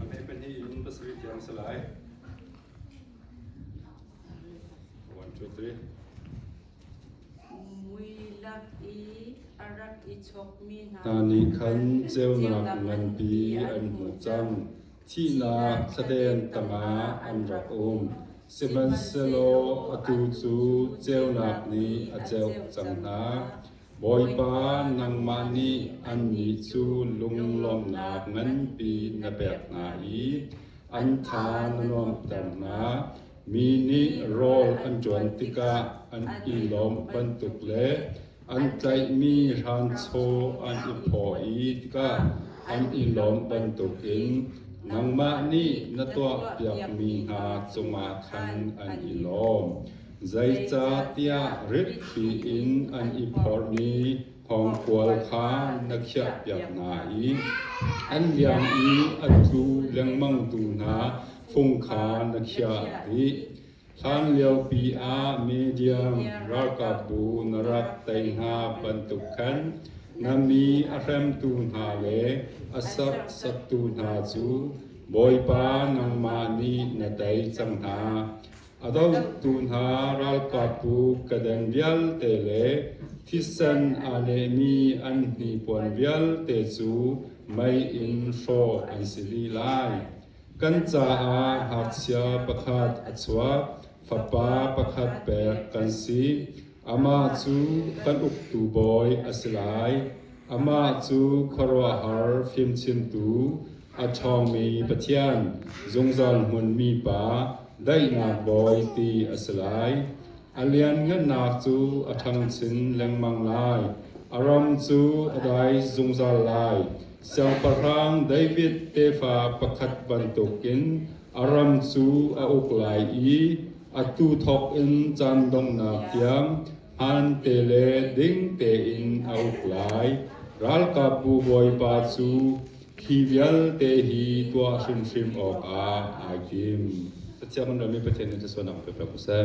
A hme pahnih in pasarih tiang a si lai. One, two, three. Mui lak i a rak i chokmi hna Hna nih khan ceunak nganpi an hmuh cang. Thihnak thladem tangah an rak um. Sihmanhsehlaw atu cu ceunak nih a ceuh cang hna. Bawipa, nangmah nih annih cu lunglawmhnak nganpi na pek hna i an tha na nuamhter hna. Mi nih rawl an ṭuan tikah an i lawm bantuk le an tlaihmi hranchaw an i phaw i tikah an i lawm bantukin nangmah nih na tuahpiakmi hna cungah khan an i lawm. Zeicahtiah ritpi in an i phorh i thawngkual kha na khiahpiak hna i an liang i a tlu lengmangtu hna fung kha na khiah dih. Hlanliopi ah Midian ralkapbu na rak tei hna bantuk khan na mi a hremtu hna le a serhsattu hna cu Bawipa nangmah nih na tei cang hna. A dotu hna ralkapbu kedan vialte le thisen aa nehmi an hnipuan vialte cu mei in hrawh an si li lai. Kan caah ngakchia pakhat a chuak, fapa pakhat pek kan si. Amah cu kan uktu bawi a si lai. Amah cu khuaruahhar fimchimtu, A ṭhawngmi Pathian, zungzal hmunmi Pa, daihnak Bawi ti a si lai. A lianngannak cu a ṭhangchin lengmang lai. A ram cu a dai zungzal lai. Siangpahrang David tefa pakhat bantukin a ram cu a uk lai i atu thawk in caan donghnak tiang hmaante le ding tein a uk lai. Ralkapbu Bawipa cu Hi vialte hi tuah hrimhrim awkah ai tim. Pathian kan ṭuanmi Pathian nih thluachuahnak pekṭi ko seh.